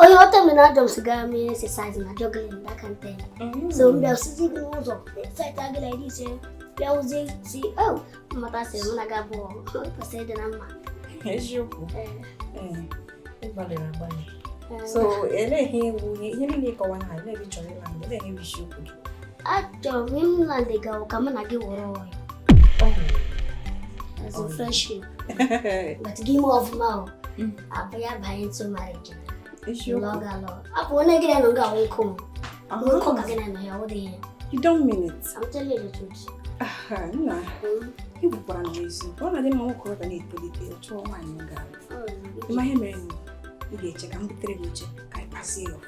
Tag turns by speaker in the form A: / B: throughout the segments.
A: onye ọta mere ajọ m sigara m ihe exercise na jogging na that kind thing mm-hmm. so m bịa sizi gị n'ụzọ site gị na iri ise bịa ụzi si o mmata sị m na-aga bụ kwesịrị ịdị na mma
B: eziokwu ị gbalịrị agbalị so olee ihe wụ ihe niile ịkọwa na olee ihe ị chọrọ ịla mgbe olee ihe wụ isiokwu gị Achọrọ
A: m England gawa ka mụ na gị wụrụ ọyị. As a friendship. But gị mee ọfụma o. Mm. A bịa banye into marriage. Lụọ gị alụọ. Ọ bụ onye gị na nọ ga-awụ nkụ m.
B: Nkụ ka gị na nọ ya ọ dị ihe. You don't mean it. I'm telling you the
A: truth.
B: Nna, ị gwakwara m ezi. Ọ na-adị mma nwoke ọ bịa na-etolite chọọ nwaanyị ọ ga-alụ. Ị ma ihe mere ị ga-eche ka m butere gị oche ka anyị kpazie ya.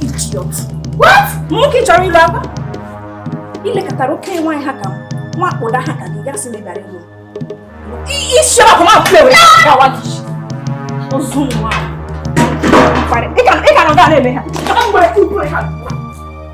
B: Idiot. What? Nwoke chọrọ ịlụ agwa? I lekatara oke nwaanyị ha ka nwa akpụda ha ka gị gasị mebara ịlụ. Isi ọkụ ma pụrụ ya gawa gị. Ozu nwa. Ị ka nọ nga na-eme ha. Ị ka nọ nga na-eme ha.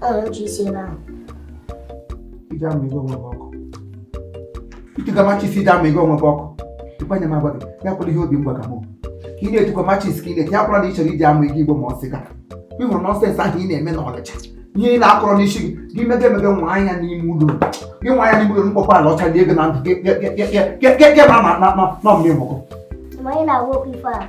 C: Ọ ya machis ebe ahụ. Ije ama ego onwe gị ọkụ. Ị tụga machis ije ama ego onwe gị ọkụ. Ịkwa nye m agwa gị, ya wụrụ ihe obi mgba ka mụ. Ka ị na-etukwa machis ka ị na-eti, ya wụrụ na ị chọrọ iji ama ego igbo ma ọ sị ga. Ị hụrụ nọnsens ahụ ị na-eme n'Ọnịcha. Ihe ị na-akọrọ n'isi gị, gị mega emega nwaa ya n'ime ụlọ. Gị nwaa ya n'ime ụlọ mkpọkwa ala ọcha dị ego na ndụ gị, gị mara na mmiri mụkọ. Ma ị na-agwa okwu ife
A: a.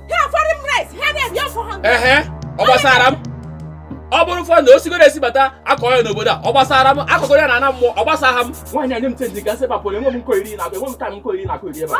B: ehe ọ gbasara
D: m ọ bụrụ fọ na o sigoro esi bata a kọ ya n'obodo a ọ gbasara m a kọọ ya na ana mmụọ ọ gbasaha m nwaanyị nye m change ka m si pa pụrụ enwe m nko iri na enwe m time nkọyeri
B: ị na-akọyeri ebe a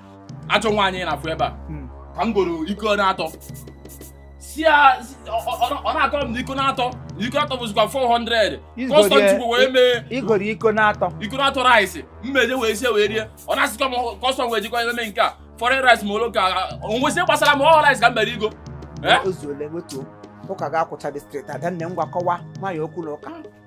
D: ajọ nwaanyị ị na-afụ ebe a Hmm. ka m goro iko na-atọ si ya si- ọ- ọ- ọ- ọ na-akọ m na iko na-atọ na iko na-atọ bụzikwa 400 Izgori kọstọm ya. chukwu wee mee m goro iko na-atọ
C: iko na-atọ rice
D: m wee je wee sie wee rie ọ na-asịkwa m kọstọm wee jikwa eme nke a foreign rice ma ọ local o nwezi gbasara m ọ rice ka m jere igo Eh? o
C: zuole wetuo ụka ga-akwụcha dị straight adanne ngwa kọwa nwaanyị okwu na ụka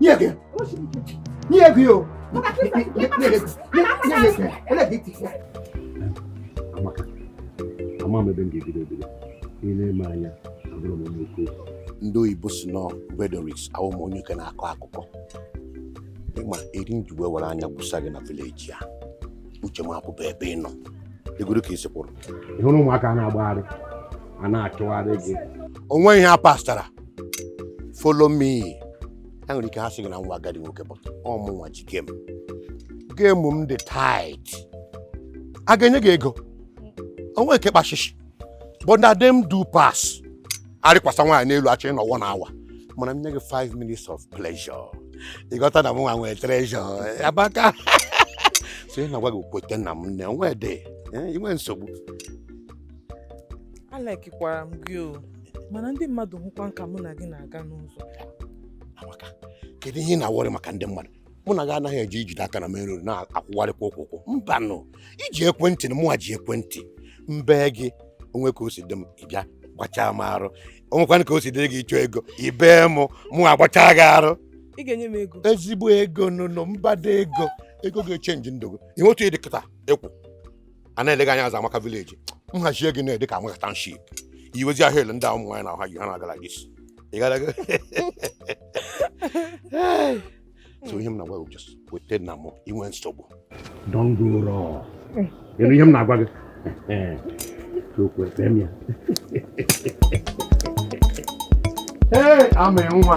E: Nye gị. Nye gị o. Amaka, ama m ebe m ga-ebido ebido. Ị na-ele m anya, abụrọ m onye okwu. Ndị oyibo sị no rhetorics awụ m onye oke na-akọ akụkọ. Ị ma eri m ji wee were anya gwụsa gị na vileji a. Uche m apụbe ebe ị nọ. Egoro ka i si kwụrụ. Ị hụrụ ụmụaka na-agbagharị, a na-achụgharị gị. O nweghị ihe ha pastara. follow me ha nwere ike ha sị gị na nwa agadi nwoke but ọ mụnwa ji game game m dị tight ha ga-enye gị ego o nwe nke kpa shishi but na dem do pass arịkwasa nwaanyị n'elu achọ ịnọ one hour mana m nye gị 5 minutes of pleasure ị ghọta na mụnwa nwe treasure Amaka so ihe m na-agwa gị kweta na m nne onwe dị eh, i nwe nsogbu
F: Alikekwara m gị o. mana ndị mmadụ hụkwanụ ka mụ na gị na-aga n'ụzọ
E: amaka kedu ihe ị na-aworry maka ndị mmadụ mụ na gị anaghị eje ijide aka na main road na-akwụgharịkwa ụkwụ ụkwụ mba nụ i ji ekwentị na mụnwa ji ekwentị m bee gị o nwee ka o si dị m ị bịa gbachaa m arụ o nwekwanụ ka o si dịrị gị ị chọọ ego i bee mụ mụ agbachaa gị arụ ị ga-enye m ego
F: ezigbo ego nụnụ
E: mbada ego ego ga-echenji ndụ gị ihe otu ị dị kịta ekwu a na-elega anya azụ amaka village m hazie gị ị na-adị ka amaka township i wezie ahụ ele ndị a ụmụ nwaanyị na-ahụ ha ji ha na-agala gị isi ị gara aga so ihe m na-agwa gị bụ just kweta na mụ i nwe nsogbu don't go wrong ị nụ ihe m na-agwa gị okwu ekpe m ya ee ama nwa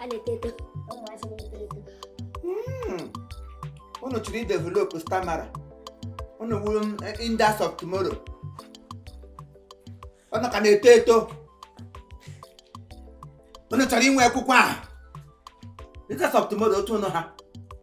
A: a na-eto eto ụmụazị na-eto eto
C: Hmm. unu chọrọ idevelop stamina unu wụrụ leaders of tomorrow unu ka na-eto eto unu chọrọ inwe akwụkwọ a leaders of tomorrow otu unu ha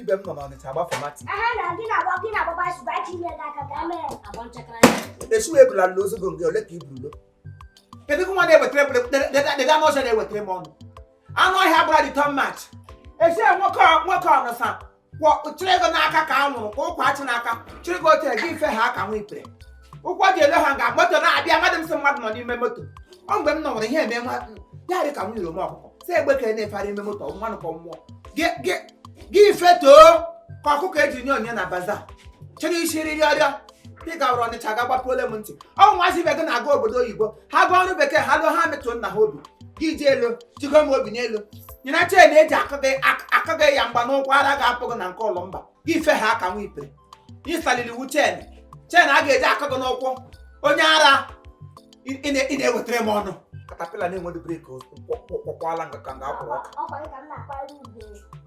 C: ibe m nọ n'ọnịcha agbafọ mati
A: esu ebula na
C: ozogo gị ole ka i burulo kedu nwa na-ewetara deda n'ọsọ na-ewetara m ọnụ anụ ọhịa gbara dị tọn mach esi nwoke nwoke ọnụsa chịrị ego n'aka ka a nwụrụ ka ụkwa achị n'aka chịrị ego otere gị ife ha ka nwa ipere ụkwụ ji ele ha nga moto na-abịa mmadụ m sị mmadụ nọ n'ime moto ọ mgbe m nọ nwere ihe eme nwa ya dị ka m yiri m ọkụkọ si egbe ka na-efara ime moto mmanụ ka mmụọ gị ife too ka ọkụkọ eji nye onye na bazaar chịrị isi riri ọrịa ị gawara ọnịcha ga gbapuole m ntị ụmụazị ibe gị na-aga obodo oyibo ha gaa ọrụ bekee ha lụọ ha metụọ nna ha obi gị ji elu jigo m obi n'elu nyere chain e ji akụ gị ya mgba n'ụkwụ ara ga-apụ gị na nke ụlọ mba gị ife ha ka nwa ipere ịsaliri iwu chain chain a ga-eji akụ gị n'ụkwụ onye ara ị na-ewetara m ọnụ caterpillar na-enwedu brake kwọkwala nga ka nga akwụrụ ọka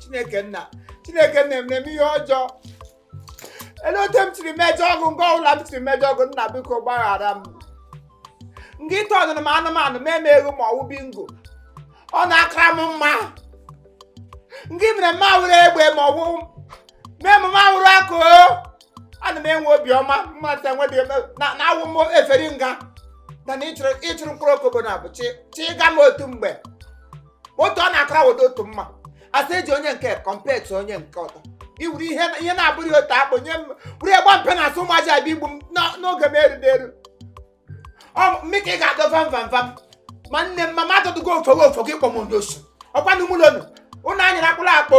C: chineke nna chineke nna emere m ihe ọjọọ ele otu m siri mejọọ gị nga ọbụla m siri mejọọ gị nna biko gbaghara m nga ị tọnụrụ m anụmanụ mee m eghu ma ọwụ bingo ọ na-akara m mma nga i mere m awụrụ egbe ma ọwụ mee m awụrụ akụ ana m enwe obiọma mmadụ enwe dị na na awụ m efere nga na na ịchụrụ ịchụrụ mkpụrụ okobo na abụ chi chi ịga m otu mgbe otu ọ na-akara weta otu mma asị eji onye nke kọmpet onye nke ọdọ iwuru ihe ihe na-abụghị otu akpụ nye m wuru egba mpe na asụ ụmụaji abịa igbu m n'o- n'oge m erudị eru ọ mmika ị ga-adọ vam vam vam ma nne m ma mmadụ dụgo ofo gị ofo gị kpọ m onye osu ọkwanụ mụlonu ụnụ anyịra akpụla akpụ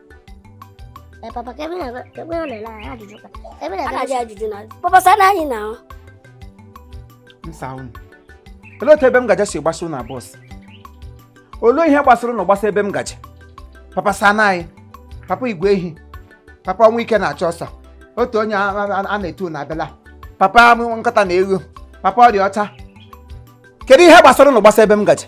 A: Ee, papa ka ebe na ebe ọ na-ele anyị ajụjụ ka ebe na a na-ajụ
C: ajụjụ na papa sana anyị na ahụ m saa unu olee otu ebe m gaje si gbasa unu abụọ si olee ihe gbasara unu gbasa ebe m gaje papa sana anyị papa igwe ehi papa o nwee ike na-achọ ọsọ otu onye a- a a na-etu na abịala papa amụ nkata na egho papa ọrịa ọcha kedu ihe gbasara unu gbasa ebe m gaje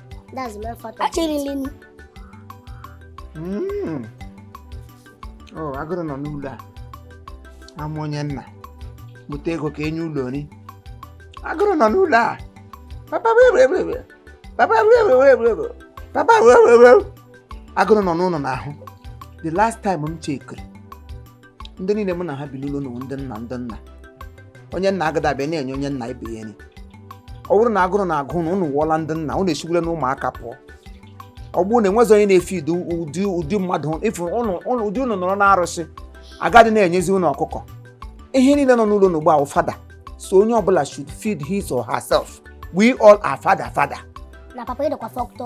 A: That's the main factor.
C: Achọrọ nri. Mm. Oh, agụrụ nọ n'ụlọ a. Ama onye nna. Bute ego ka enye ụlọ nri. Agụrụ nọ n'ụlọ a. Papa wewewewe. Papa wewewewe. Papa wewewewe. Agụrụ nọ unu n'ahụ. The last time m chekiri. ndị niile mụ na ha bi n'ụlọ a wụ ndị nna ndị nna onye nna agadị abịa na-enye onye nna ibe ya nri ọ bụrụ na agụrụ na-agụ ụnụ ụnụ awụọla ndị nna ụnụ esiwola n'ụmụaka pụọ ọ bụrụ na enwezi onye na-efeed ụdị ụdị ụdị mmadụ ịfụ ụnụ ụnụ ụdị ụnụ nọrọ n'arụsị agadị na-enyezi ụnụ ọkụkọ ihe niile nọ n'ụlọ n'ugbu a wụ father so onye ọbụla should feed his or herself we all are father father na papa ịdịkwa
A: fọktọ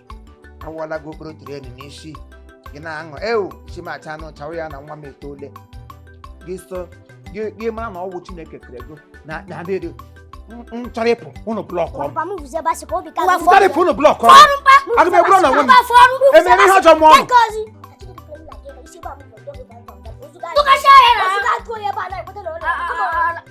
C: awụọla gị okporo tren n'isi gị na-aṅụ ewu chimacha anụ chawa ya na nwa m etoola gị so gị gị mara na ọwụ chineke kere gị na na adịrị m chọrọ ịpụ ụnụ blọkụọ m Papa m vuzi ebe a sị ka obi ka ụwa gị chọrọ ịpụ ụnụ blọkụọ m aga m egburu ụnụ onwe m emere m ihe ọjọọ mụọ ụnụ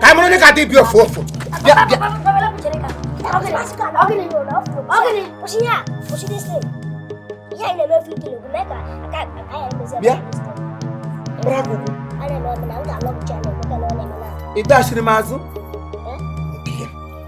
C: ka m mara onye ga-adị bi ofu ofu bịa bịa bịa ị dachiri m azụ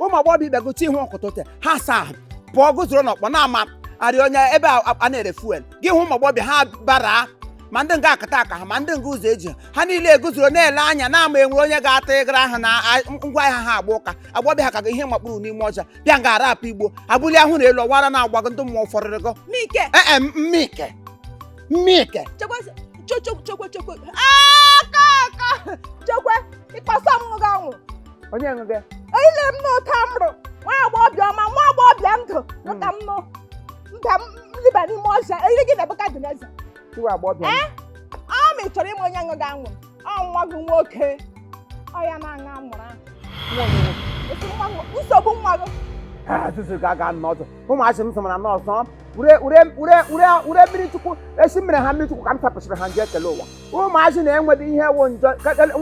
C: ụmụ agbọghọbịa gote ihe otite ha asa ahụ pụọ guzoro n'ọkpọ na-ama arị onye ebe a a na-ere fuel gị hụ ụmụ agbọghọbịa ha bara ma ndị nga akata aka ha ma ndị nga ụzọ eji ha. ha niile eguzoro na-ele anya na-ama enwere onye ga-ata ịgara ahụ na a- ngwa ahịa ha agba ụka agbọghọbịa ha ka ga ihe makpuru n'ime ọhịa bịa nga arapụ igbo abụli ahụ na elu ọwara na-agbago ndị mmụọ fọrịrị gọ Mike, ee mmike mmike chekwa chekwa chekwa chekwa aka
G: aka chekwa ịkpasa mmụọ gị anwụ onye ṅụ
C: gị ile m
G: n'ụta mrụ nwa agbọghọbịa ọma nwa agbọghọbịa ndụ ụta m nụ mba m liba n'ime ọhịa eri gị Nebukadneza iwe agbọghọbịa
C: Eh? ọ ma ị
G: chọrọ ịma onye ṅụga anwụrụ ọ nwa gị nwoke ọ ya na-aṅụ anwụrụ ahụ Esi nwa gị- nsogbu nwa gị azụzụ ga
C: aga n'ụzọ ụmụazị m sọmara n'ụzọ ure ure ure ure ure mmiri chukwu esi mere ha mmiri chukwu ka m sapụsịrị ha njọ ekere ụwa ụmụazị na-enwedị ihe wụ njọ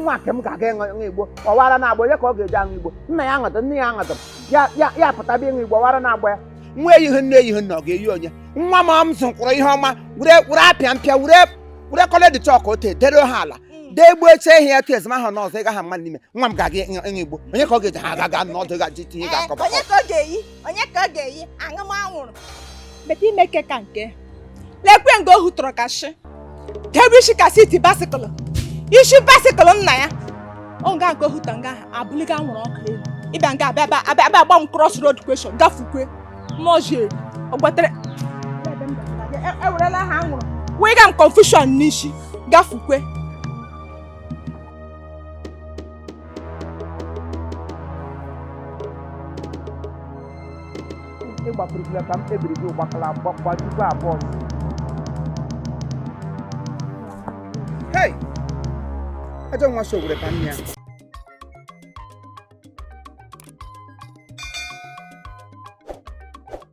C: nwa nke m ga-aga ịṅụ igbo ọwara na-agba onye ka ọ ga-eyi aṅụ igbo nna ya aṅụdụ nne ya aṅụdụ ya pụtaba ịṅụ igbo ọwara na-agba ya nwa eyighị nne eyighị nna ọ ga-eyi onye nwa m m zụkwụrụ ihe ọma were were apịa mpịa were were coloured chalk ote dere ha ala mm. dee gbuo eche ihe ya tu ezima ha n'ụzọ ị gaghị mma n'ime nwa m ga-aga ịṅụ igbo onye ka ọ ga-eyi ha aga ga n'ọdụ ga-eji tinye ga-akọba
G: onye ka ọ ga-eyi aṅụ m anwụrụ meta ime ike ka nke lekwe nga ohu tọrọ ka shị debe isi ka seat bicycle isi bicycle nna ya ọ nga nke ohu tọrọ nga ahụ abụliga anwụrụ ọkụ elu ịbịa nga abịa abịa abịa abịa agba m cross road question gafukwe mọzi eri ọ gbatere E- ewerela ha anwụrụ wega m confusion n'isi gafukwe
C: ịgbakwurukila ka m kpebiri gị ụgbakala gbakwa tupu abụọ hei ajọ nwa si owere ka nne ya